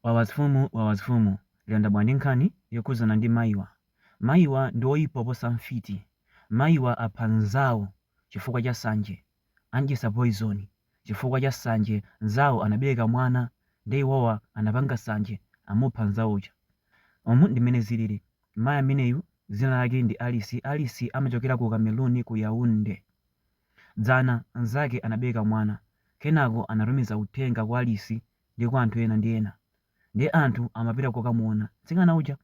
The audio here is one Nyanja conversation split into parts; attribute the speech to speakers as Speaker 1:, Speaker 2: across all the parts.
Speaker 1: Wawazfumu Wawazfumu lero ndabwera ndi nkhani yokhudzana ndi mayiwa. Mayiwa ndi oyipa oposa mfiti. Mayiwa apha nzawo chifukwa cha sanje. Andyetsa poison chifukwa cha sanje nzawo anabereka mwana nde iwowa anapanga sanje amupha nzawo uja. Umu ndi mmene zilili. Mayi ameneyu dzina lake ndi Alice. Alice amachokera ku Cameroon ku Yaounde. Dzana nzake anabereka mwana. Kenako anatumiza uthenga kwa Alice ndi kwa anthu ena ndi ena. Ndiye anthu amapita kukamuona mtsikana uja.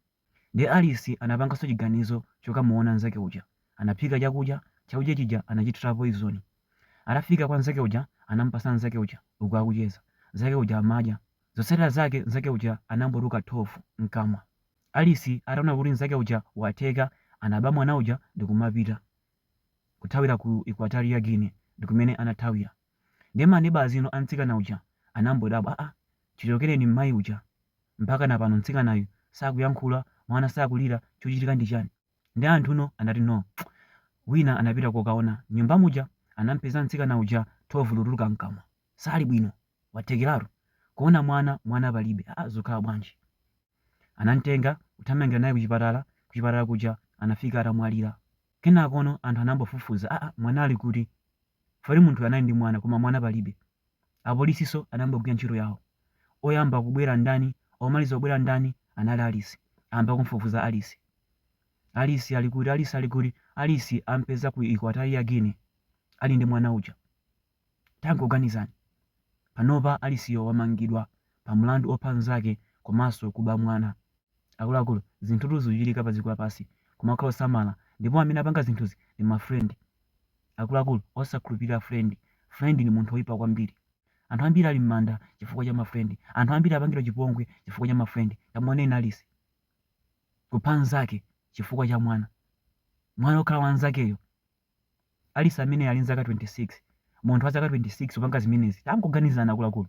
Speaker 1: Ndiye Alice anapanganso chiganizo chokamuona mnzake uja. Anaphika chakudya, chakudya chija anachithira poizoni. Atafika kwa mnzake uja anamupatsa mnzake uja uku akucheza. Mnzake uja amadya. Zotsatira zake mnzake uja anangotuluka thovu mkamwa. Alice ataona kuti mnzake uja watheka anaba mwana uja ndikumapita. Kuthawira ku Equatorial Guinea ndikumene anathawira. Ndiye ma neighbours inu a mtsikana uja anangodabwa aah chichokereni mmayi uja mpakana pano mtsikanayu sakuyankhula mwana sakulira chochitika ndi chani? Ndiye anthuno anati no wina anapita kukaona mnyumba muja anampeza mtsikana uja thovu likutuluka mkamwa sali bwino wathekeratu kuona mwana mwana palibe aah zukhala bwanji? Anamtenga kuthamangira naye kuchipatala, kuchipatala kuja anafika atamwalira. Kenakono anthu anayamba kufufuza, aa mwana ali kuti? Chifukwa kuti munthuyu anali ndi mwana koma mwana palibe. Apolisinso anayamba kugwira ntchito yawo. Oyamba kubwera ndani, omaliza kubwera ndani, anali Alice. Ayamba kumufufuza Alice. Alice ali kuti, Alice ali kuti? Alice amupeza ku Equatorial Guinea ali ndi mwana uja. Tangoganizani, panopa Aliceyo wamangidwa pa mlandu opha mnzake komanso kuba mwana. Akuluakulu, zinthutu zikuchitika padziko lapansi, kumakhala osamala ndipo amene apanga zinthuzi ndi ma friend. Akuluakulu, osakhulupirira friend, friend ndi munthu oipa kwambiri. Anthu ambiri ali mmanda chifukwa cha ma friend, anthu ambiri apangidwa chipongwe chifukwa cha ma friend. Tamuoneni Alice, kupha mnzake chifukwa cha mwana, mwana okhala wa mnzakeyo Alice ameneyo ali nzaka 26, munthu wa zaka 26 kupanga zimenezi? Tangoganizani akuluakulu.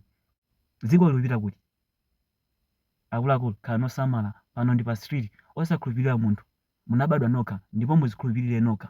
Speaker 1: Dzikoli likupita kuti? Akuluakulu, khalani osamala. Pano ndi pa street. Osakhulupirira munthu. Munabadwa nokha ndipo mudzikhulupirire nokha.